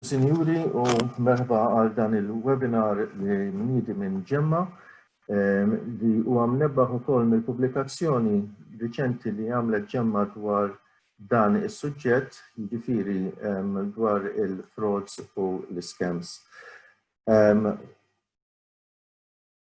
Sinjuri u merħba għal dan il-webinar li mniedi minn Ġemma li huwa mnebbaħ ukoll mill-pubblikazzjoni riċenti li għamlet Ġemma dwar dan is-suġġett, jiġifieri dwar il-frauds u l-iskems.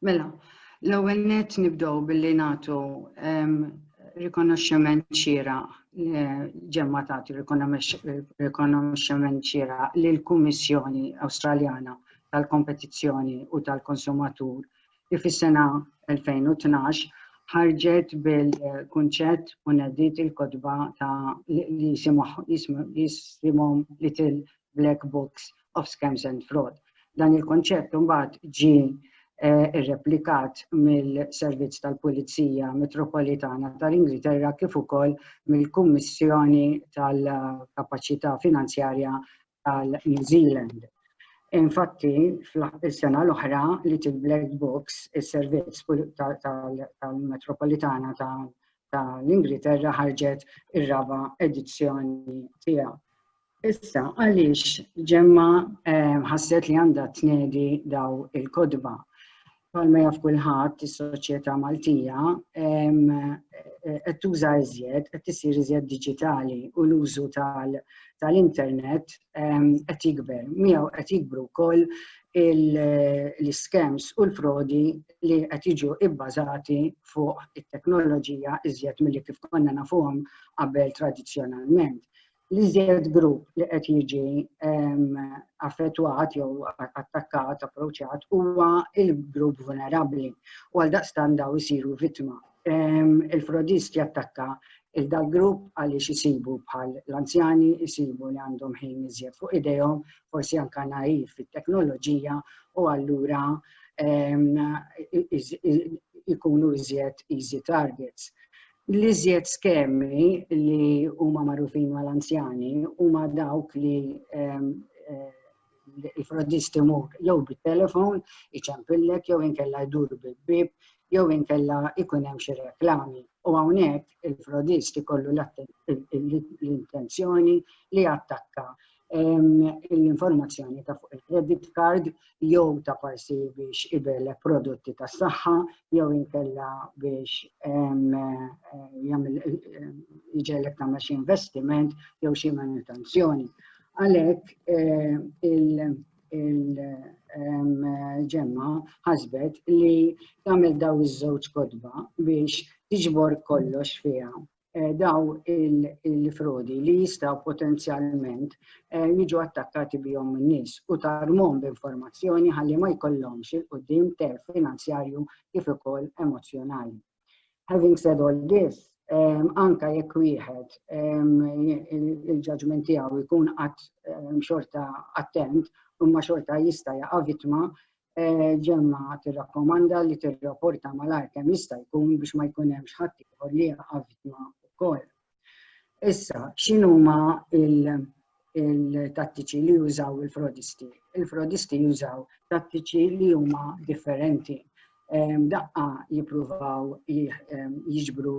Mela, l-ewwel net nibdew billi nagħtu rikonoxximent ċira ġemma tagħti rikonoxximent ċira lill kummissjoni Awstraljana tal-Kompetizzjoni u tal-Konsumatur li fis-sena 2012 ħarġet bil-kunċett u nediet il-kotba ta' li jisimhom Little Black Books of Scams and Fraud. Dan il-konċett mbagħad ġi eh, irreplikat mill-Servizz tal-Pulizija Metropolitana tal-Ingilterra kif ukoll mill-Kummissjoni tal-Kapaċità Finanzjarja tal New Zealand. Infatti, fl-sena l-oħra li til Black Books, il-servizz tal-Metropolitana tal-Ingilterra ħarġet ir-raba edizzjoni tiegħu. Issa, għaliex ġemma eh, ħasset li għandha tnedi daw il-kodba. Palma jaf kulħadd is-soċjetà Maltija qed tuża iżjed, qed isir iżjed diġitali u l-użu tal-internet qed jikber. Miegħu qed jikbru wkoll l-iskems u l-frodi li qed jiġu ibbażati fuq it-teknoloġija iżjed milli kif konna nafuhom qabel tradizzjonalment. l-iżjed grupp li qed jiġi affettwat jew attakkat, approċċjat huwa il-grupp vulnerabbli u għal daqstan daw isiru vittma. Il-frodist jattakka il-dal grupp għaliex isibu bħal l-anzjani, isibu li għandhom ħin iżjed fuq idejhom, forsi anka naif fit-teknoloġija u allura ikunu iżjed easy targets. L-iżjed skemi li huma magħrufin mal-anzjani huma dawk li ehm, eh, il-frodisti mur jew bit-telefon iċempillek jew inkella jdur bil-bib jew inkella ikun hemm xi reklami. U hawnhekk il-frodist ikollu l-intenzjoni li attakka l-informazzjoni ta' fuq il-credit card jew ta' parsi biex ibel prodotti tas saħħa jew inkella biex jġellek ta' xi investiment jew xi manutenzjoni. Għalhekk il-ġemma ħasbet li tagħmel daw iż-żewġ kodba biex tiġbor kollox fiha eh, daw il-frodi li jistaw potenzjalment eh, jiġu attakkati bihom n-nis u tarmom b'informazzjoni ħalli ma jkollhomx il-qoddim ter finanzjarju kif ukoll emozjonali. Having said all this, um, anka jekk wieħed um, il-ġaġment tiegħu jkun qatt um, xorta attent, imma xorta jista' jaqa' vittma ġemma tirrakkomanda li tirrapporta malajr kemm jista' jkun biex ma jkun hemmx ħadd ieħor li jaqa' vittma wkoll. Issa, x'inhuma il-tattiċi li jużaw il-frodisti? Il-frodisti jużaw tattiċi li huma differenti. Daqqa jippruvaw jiġbru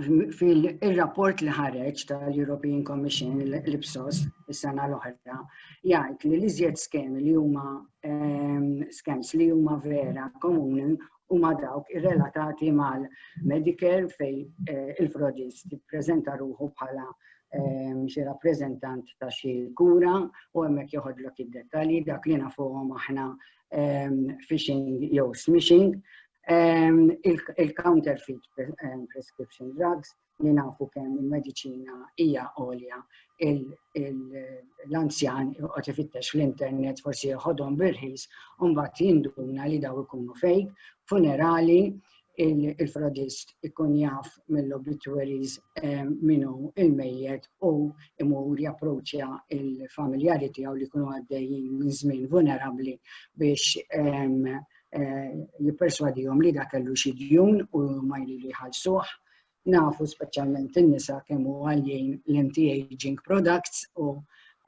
fil-rapport li ħareġ tal-European Commission, l-IPSOS, is-sena l-oħra, jgħid li l-iżjed skemi li huma ehm, skems li huma vera komuni huma dawk irrelatati mal-Medicare fej eh, il-frodis tippreżenta ruħu bħala ehm, xi rappreżentant ta' xi kura u hemmhekk joħodlok id-dettalji dak li nafuhom aħna phishing jew smishing, il-counterfeit prescription drugs li nafu kemm il-medicina hija għolja l-anzjan qed ifittex fl-internet forsi jħodhom birħis u mbagħad jinduna li daw ikunu fejk, funerali, il-fradist ikun jaf mill-obituaries eh, minu il-mejjet u imur japproċja il-familjari tiegħu li kunu għaddejjin minn żmien vulnerabbli biex eh, jipperswadihom li dak kellu xi djun u ma jridu jħallsuh. nafu speċjalment in-nisa kemm hu għaljin l-anti-aging products u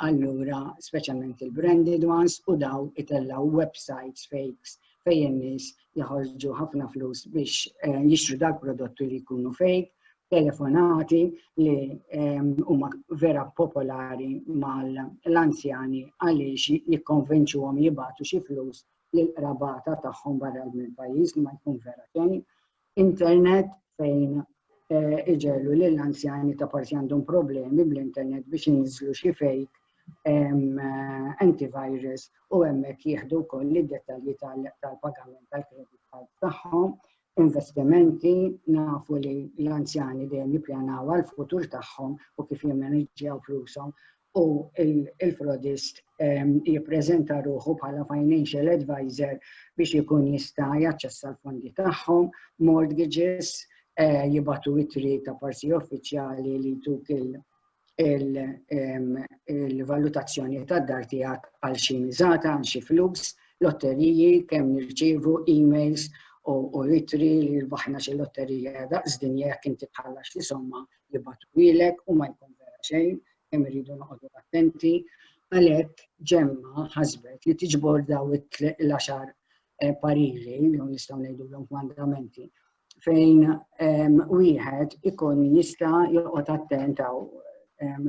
allura speċjalment il-branded ones u daw itellaw websites fakes fejn in-nies jaħorġu ħafna flus biex eh, jixtru dak prodotti li jkunu fake, telefonati li ehm, huma vera popolari mal-anzjani għaliex jikkonvinċuhom jibatu xi flus l-rabata tagħhom barra mill-pajjiż li ma jkun vera xejn internet fejn eh, iġellu li l-anzjani ta' parsi għandhom problemi bl-internet biex jinżlu xi fejk eh, antivirus u hemmhekk jieħdu wkoll id-dettalji tal-pagament tal-kredit card tagħhom, investimenti, nafu li l-anzjani dejjem jippjanaw għal futur tagħhom u kif jemmaniġġjaw flushom u l-frodist jippreżenta ruħu bħala financial advisor biex ikun jista' jaċċessa l-fondi tagħhom, mortgages, eh, jibatu itri ta' parsi uffiċjali li tuk il-valutazzjoni tad dar tiegħek għal xi miżata, għal xi flus, lotteriji, kemm nirċievu emails u itri li rbaħna xi lotterija daqs dinja jekk inti tħallax li somma li batwilek u ma jkun vera xejn, kemm irridu noqogħdu attenti. Għalhekk ġemma ħasbet li tiġbor daw il-għaxar eh, pariri, jew nistgħu ngħidulhom mandamenti, fejn ehm, wieħed ikun jista' joqgħod attent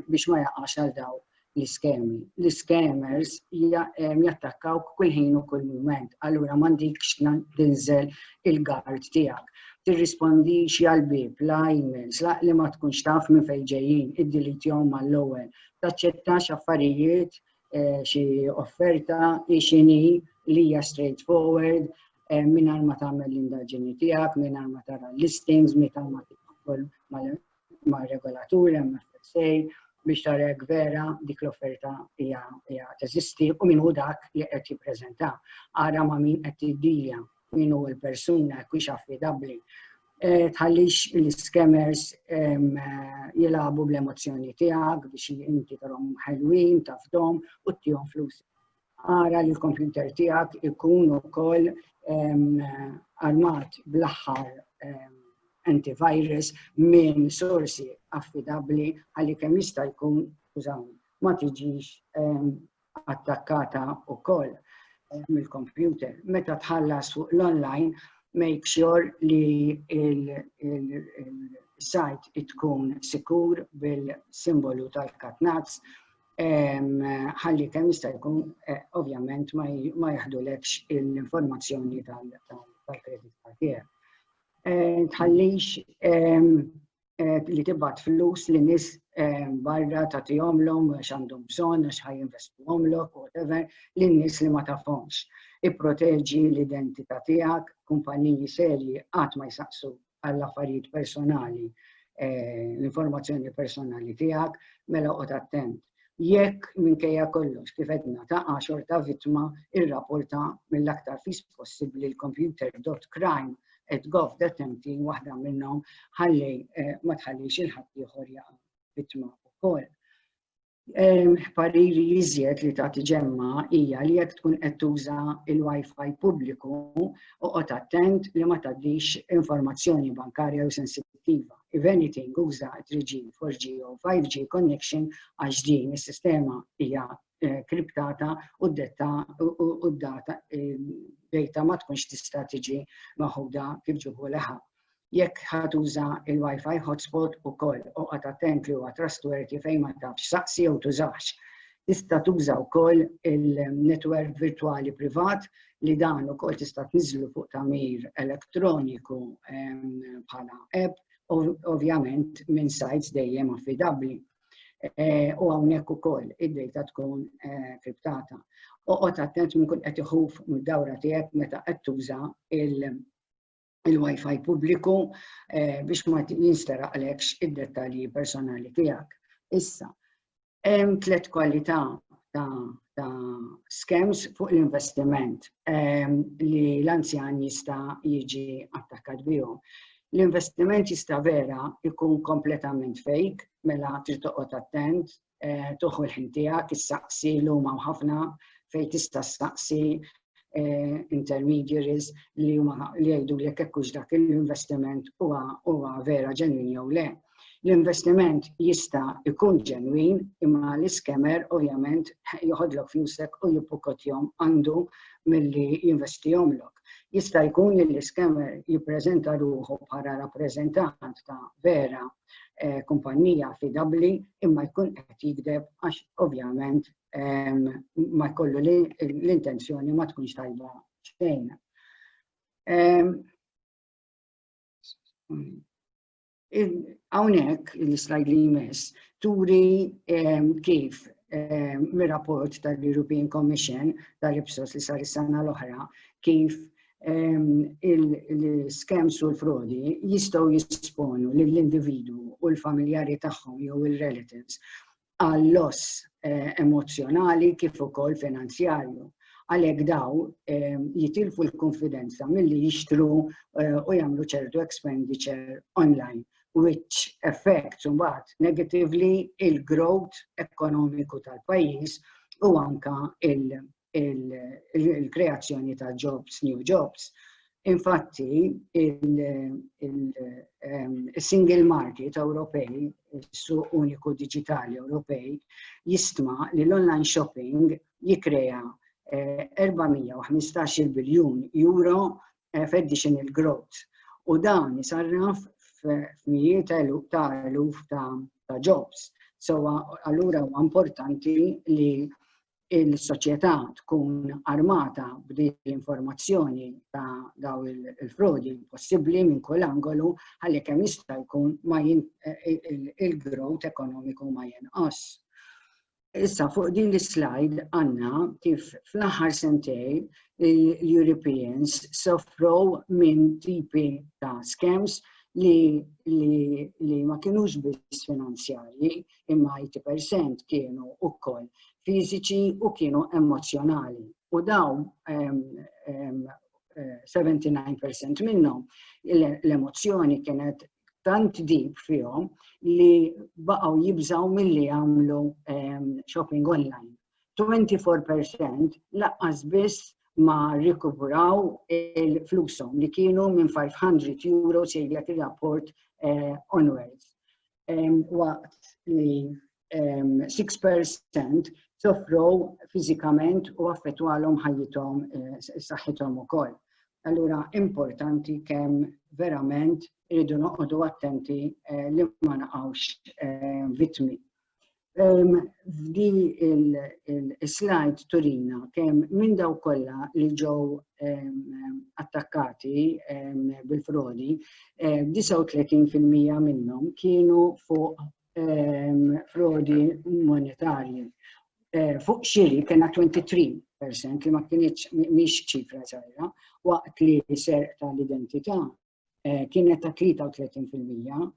biex ma jaqax għal daw l-iskemi. L-iskemers jattakkaw kull ħin u kull mument, allura m'għandikx tinżel il-gard tiegħek. Tirrispondix għal bib la emails la li ma tkunx taf minn fejn ġejjin, iddilitjhom mal-ewwel. Taċċettax affarijiet eh, xi offerta ixini li hija straightforward eh, mingħajr ma tagħmel l-indaġini tiegħek, mingħajr ma tara listings, mingħajr ma tidħol ma' regolaturi hemm FSA biex tara jekk vera dik l-offerta hija teżisti u min hu dak li qed jippreżenta. Ara ma' min qed tiddilja, min hu l-persuna jekk hux affidabbli. Eh, tħallix l-iskemers jilagħbu bl-emozzjoni tiegħek biex inti tarhom ħelwin, tafdhom u tihom flus. Ara li l-kompjuter tiegħek ikun ukoll armat bl-aħħar antivirus minn sorsi affidabbli għalli kemm jista' jkun użawni ma tiġix ehm, attakkata wkoll eh, mill-kompjuter. Meta tħallas fuq l-online, make sure li il-sajt tkun sikur bil-simbolu tal-katnazz ħalli kemm jista' jkun eh, ovvjament ma jaħdulekx l-informazzjoni tal-kredit card tiegħek. Eh, tħallix eh, li tibgħat flus li nies barra ta' tijomlom, xandum bżon, xħaj investu omlok, whatever, l-nis li ma tafhomx. Ipproteġi l-identità tijak, kumpaniji serji għat ma jisaqsu għall-affarijiet personali, eh, l-informazzjoni personali tiegħek, mela qod attent. Jekk minkejja kollox kif edna taqa' xorta vittma irrapporta mill-aktar fis possibbli l-computer.crime et gov detenti waħda minnhom ħalli eh, ma tħallix il-ħadd ieħor jaqa' vittma wkoll. Pariri jiżjed li ta' tiġemma hija li jekk tkun qed tuża il-Wi-Fi pubbliku oqgħod attent li ma tgħaddix informazzjoni bankarja u sensittiva. If anything, uża 3G, 4G u 5G connection għax din is-sistema hija eh, kriptata u d-data u d-data eh, ma tkunx tista' tiġi maħuda kif ġibu leħa. jekk ħatuża il-Wi-Fi hotspot ukoll oqgħod attent li huwa trustworthy fejn ma tafx saqsi jew tużax. Tista' tuża wkoll il-netwerk virtwali privat li dan ukoll tista' tniżżlu fuq tagħmir elettroniku bħala app, ovvjament minn sajts dejjem affidabbli. Eh, u hawnhekk ukoll id-dejta tkun eh, kriptata. Oqgħod attent minn kull qed iħuf mid-dawra tiegħek meta qed tuża il- il-Wi-Fi pubbliku eh, biex ma jinsteraqlekx id-dettalji personali tiegħek. Issa, hemm tliet kwalità ta', ta scams fuq l-investiment eh, li l-anzjan jista' jiġi attakkat bihom. L-investiment jista' vera jkun kompletament fake, mela trid toqgħod attent, eh, tuħu l-ħin tiegħek, issaqsi l huma ħafna fejn tista' staqsi eh, intermediaries li huma li jgħidu li jekk hux dak l-investiment huwa huwa vera ġenwin jew le. L-investiment jista' ikun ġenwin imma l-iskemer ovvjament joħodlok flusek u jipukotjom għandu milli jinvestihomlok. Jista' jkun li l-iskemer jippreżenta ruħu bħala rappreżentant ta' vera eh, kumpanija fidabbli imma jkun qed jikdeb għax ovvjament ehm, ma jkollu l-intenzjoni ma tkunx tajba xejn. Ehm, hawnhekk l-slide li jmiss turi ehm, kif Eh, mir-rapport tal-European Commission tal-Ipsos li sar is-sena l-oħra kif il-skems u l-frodi jistgħu jisponu lill-individwu u l-familjari tagħhom jew il-relatives għal loss eh, emozjonali kif ukoll finanzjarju għalhekk daw ehm, jitilfu l-konfidenza milli jixtru eh, u jagħmlu ċertu expenditure online which affects mbagħad negatively il-growth ekonomiku tal-pajjiż u anka il-kreazzjoni ta' jobs, new jobs. Infatti, il-single ehm, market Ewropej, su uniku digitali Ewropej, jistma li l-online shopping jikrea 415 eh, biljun euro eh, f'additional growth. U dan jisarraf f'mijiet ta' eluf ta' jobs. So, allura huwa importanti li il-soċjetà tkun armata b'din l-informazzjoni ta' daw il-frodi possibbli minn kull angolu ħalli kemm jista' jkun ma il-growth ekonomiku ma jinqas. Issa fuq din l-slide għandna kif fl-aħħar sentej l-Europeans soffrow minn tipi ta' scams li, li, li ma kienux biss finanzjarji, imma 80% kienu wkoll fiżiċi u kienu emozjonali. U dawn 79% minnhom l-emozzjoni kienet tant dib fihom li baqgħu jibżaw milli jagħmlu ehm, shopping online. 24% laqqas biss ma rikupuraw il-flusom li kienu minn 500 euro sejlet il-rapport eh, onwards. waqt li 6% soffrow fiżikament u affettwalhom ħajjithom eh, saħħithom ukoll. Allura importanti kemm verament irridu noqogħdu attenti eh, li ma naqgħux eh, vittmi. F'di il-slide turina kemm minn daw kollha li ġew attakkati bil-frodi, 39% minnhom kienu fuq frodi monetarji. Fuq xiri kena 23% li ma kienieċ miex ċifra zaħira, waqt li ser tal-identità eh, kienet ta' 33%,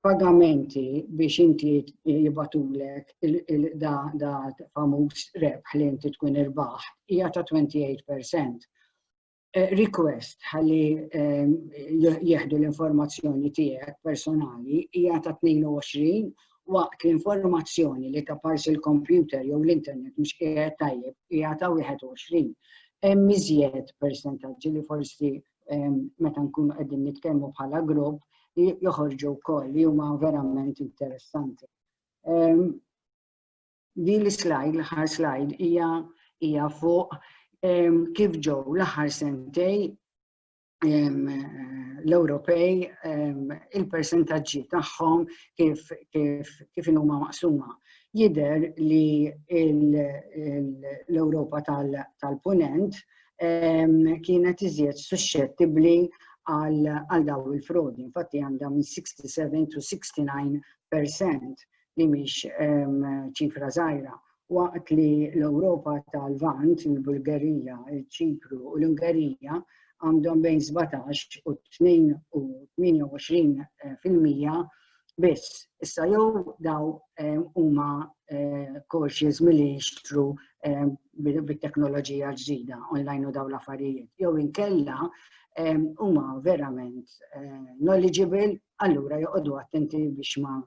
pagamenti biex inti jibatulek da, da famuż rebħ li inti tkun irbaħ hija ta' 28%. Eh, request ħalli ehm, jieħdu l-informazzjoni tiegħek personali hija ta' 22 waqt l-informazzjoni li ta' parsi l-kompjuter jew l-internet mhux qiegħed tajjeb hija ta' 21. Hemm iżjed persentaġġi li forsi meta nkunu qegħdin nitkellmu bħala grupp li joħorġu wkoll li huma verament interessanti. Di l-slide, l-ħar slide, hija hija fuq kif ġew l-aħħar sentej l-Ewropej il-persentaġġi tagħhom kif kif kif huma maqsuma. Jider li l-Ewropa tal-Punent kienet iżjed suscettibbli għal daw il-frodi. Infatti għandha minn 67 to 69% li mhix ċifra żgħira. Waqt li l-Ewropa tal-Vant, il-Bulgarija, il-Ċipru u l-Ungerija għandhom bejn 17 u 28 fil-mija biss. Issa jew daw ehm, huma eh, cautious milli jixtru ehm, bit-teknoloġija ġdida online u daw l-affarijiet. Jew inkella ehm, huma verament eh, knowledgeable, allura joqogħdu attenti biex ma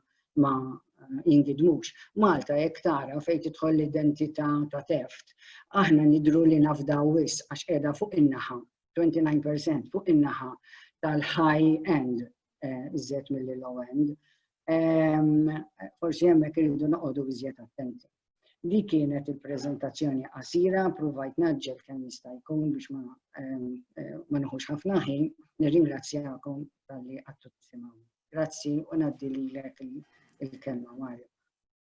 ma jingidmux. Malta jekk tara fejn tidħol l-identità ta' teft, aħna nidru li nafdaw wis għax qiegħda fuq in-naħa, 29% fuq in-naħa tal-high end eh, iżjed mill-low end. Ehm, forsi hemmhekk irridu noqogħdu iżjed attenti. Di kienet il-prezentazzjoni qasira, provajt naġġel kemm jista' jkun biex ma ehm, eh, nħux ħafna ħin, nirringrazzjakom tal-li għattu tisimgħu. Grazzi u ngħaddi lilek il-kelma Mario.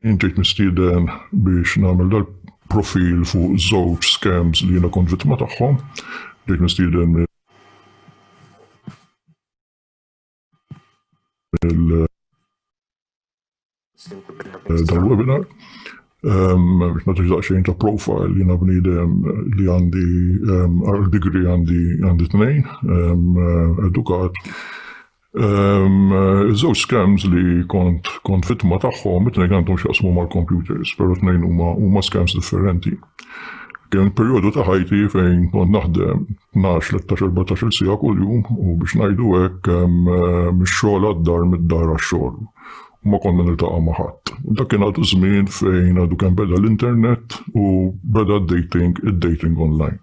Jien ġejt mistieden biex nagħmel dal-profil fuq żewġ scams li jiena kont vittma tagħhom. Ġejt mistieden mill dal-webinar. Biex nagħtix daqsxejn ta' profile, jiena bniedem li għandi għal degree għandi tnejn, edukat. Iż-żewġ scams li kont kont vittma tagħhom, it-tnejn għandhom x'jaqsmu mal-computers, però tnejn huma huma scams differenti. Kien perjodu ta' ħajti fejn kont naħdem 12 13 14 siegħa kuljum u biex ngħidu hekk mix-xogħol għad-dar mid-dar għax-xogħol. U ma konna niltaqa' ma' ħadd. Dak kien għadu żmien fejn għadu kemm beda l-internet u beda d-dating, id-dating online.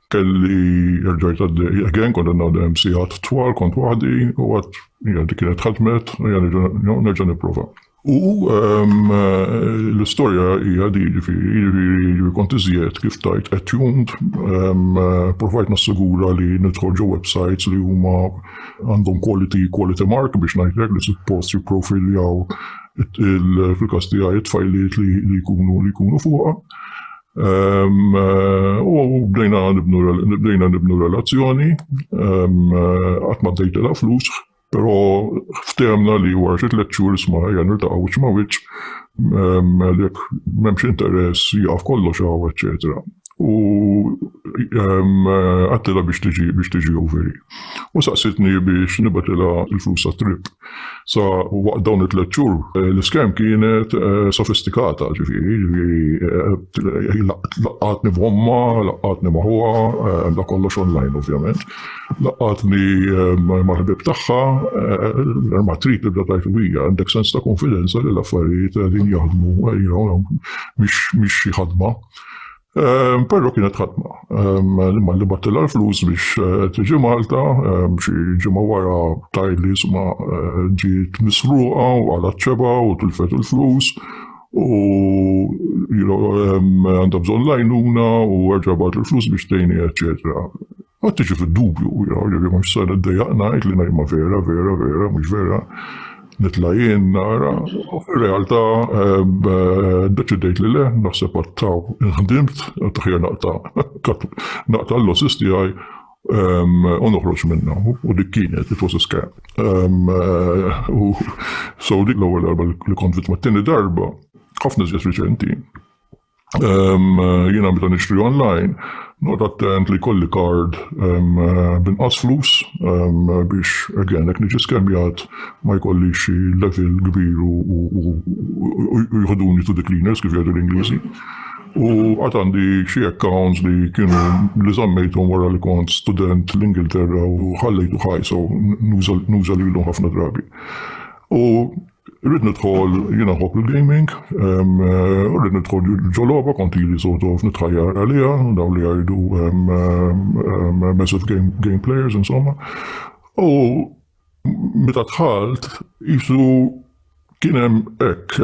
Kelli erġajt għaddej again, kont għadna għaddejjem sigħat twal, kont waħdi, u għad, hija dik kienet ħadmet, hija nerġa' nipprova. U l-istorja hija di, ġifieri, ġifieri kont iżjed kif tajt attuned, provajt nassigura li nidħol ġo websites li huma għandhom quality, quality mark biex ngħidlek li suppost jipprofiljaw fil-każ tiegħi t-tfajliet li jkunu fuqha. U bdejna nibnu, bdejna nibnu relazzjoni, qatt ma dejtilha flus, però ftehemna li wara xi tliet xhur isma' ejja niltaqgħu wiċċ ma' wiċċ, jekk m'hemmx interess jieqaf kollox hawn, eċċetera. U għedtilha biex tiġi, biex tiġi Ouveri. U saqsietni biex nibgħatilha l-flus tat-trip. Sa waqt dawn it-tliet xhur l-iskem kienet eh, sofistikata, ġifieri, ġifieri eh, laqqatni b'omma, laqqatni maħuha, eh, da kollox online ovvjament, laqqatni mal-ħbib tagħha, ma trid tibda tajt bija, għandek sens ta' konfidenza li l-affarijiet din jaħdmu, mhix xi ħadma. Però kienet ħatma. L-imma li battilha l-flus biex eh, tiġi Malta, xi ġimgħa wara tajli li sma eh, ġiet misruqa u għala ċeba u tilfet il-flus u għandha bżonn lajnuna u għagħabat il-flus biex tejni, eċetera. Qatt tiġi fid-dubju, jaraw li mhux se niddejjaq ngħid li ngħidma vera, vera, vera, mhux vera, nitla' jien nara, u fir-realtà ddeċidejt li le, naħseb għattaw inħdimt, għadd aħjar naqta' naqta' l-losses tiegħi u noħroġ minnha. U dik kienet, it was a scam. U so dik l-ewwel darba li kont vittma. T-tieni darba, ħafna iżjed riċenti, Jiena meta nixtri online, noqgħod attent li jkolli kard b'inqas flus biex again jekk niġi skemjat ma jkollix xi level kbir u jħoduni to the cleaners kif jgħidu l-Ingliżi. U għad għandi xi accounts li kienu li żammejthom wara li kont student l-Ingilterra u ħallejtu ħaj, so nuża lilhom ħafna drabi. U Irrid nidħol jiena nħobb il-gaming, irrid nidħol ġo logħba kont ili sort of nitħajjar għaliha, dawn li jgħidu massive game, game players insomma. U meta dħalt jisu kien hemm hekk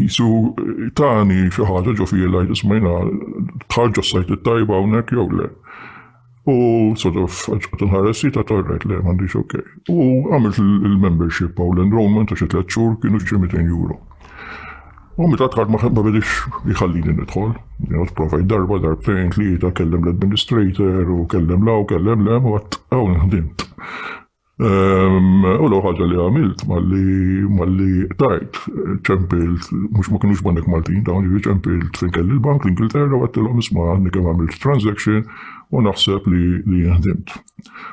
jisu tani xi ħaġa ġo fija li jismajna tħarġu s-sajt it-tajba hawnhekk jew le. U sort of ġqat nħares ta' torret li m'għandix ok. U għamilt il-membership għaw l-enrollment ta' xi tliet xhur kienu xi 200 euro. U meta tħar ma bedix jħallini nidħol, jgħod provajt darba, darbtejn, tlieta, kellem l-administrator u kellem law, kellem lem, u għat għaw nħdimt. U l-ewwel ħaġa li għamilt malli malli tajt ċempilt mhux ma kinux banek Maltin dawn jiġri ċempilt fejn kelli l-bank l-Ingilterra u għattilhom isma' għandni kemm għamilt transaction u naħseb li li jinħdimt.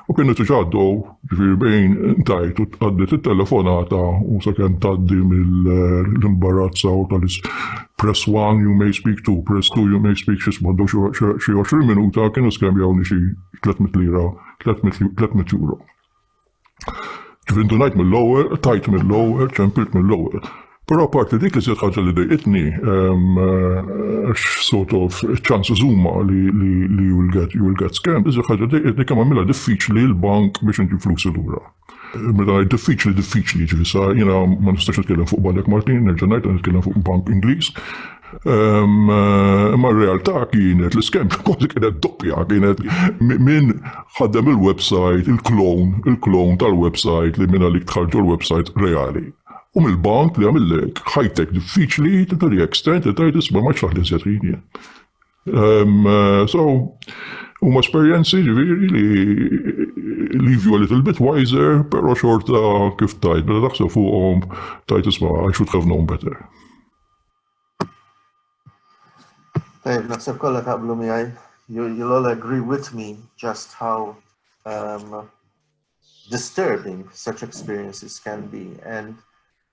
U kienu tiġa għaddew ġifieri bejn tajt u tqaddet it-telefonata u sakemm tgħaddi mill-imbarazza u tal-is press one you may speak to, press two you may speak xi sbaddu xi 20 minuta kienu skembjawni xi 300 lira 300 euro. Ġifieri ndunajt mill-ewwel, tajt mill-ewwel, ċempilt mill-ewwel. Però apparti dik li żied ħaġa li dejqitni, sort of ċans żuma li you will get scammed, iżjed ħaġa dejqitni kemm għamilha diffiċli l-bank biex inġib flusi lura. Meta ngħid diffiċli, diffiċli, ġifieri sa jiena ma nistax nitkellem fuq Banek Maltin, nerġa' ngħid qed nitkellem fuq bank Ingliż. Ehm, imma r-realtà kienet l-iskem kważi kienet doppja, kienet min ħaddem il-website, il-klon, il-klon tal-website li minna li tħarġu l-website reali. U mill-bank li għamillek ħajtek diffiċli, to the extent li tajt isma' ma ċaħli setrini. Um, so, huma esperjenzi ġviri li leave you a little bit wiser, pero xorta kif tajt, bada taħseb fuqhom tajt isma' I should have known better. Tajt, naħseb kollha taqblu miegħi. You'll all agree with me just how um, disturbing such experiences can be and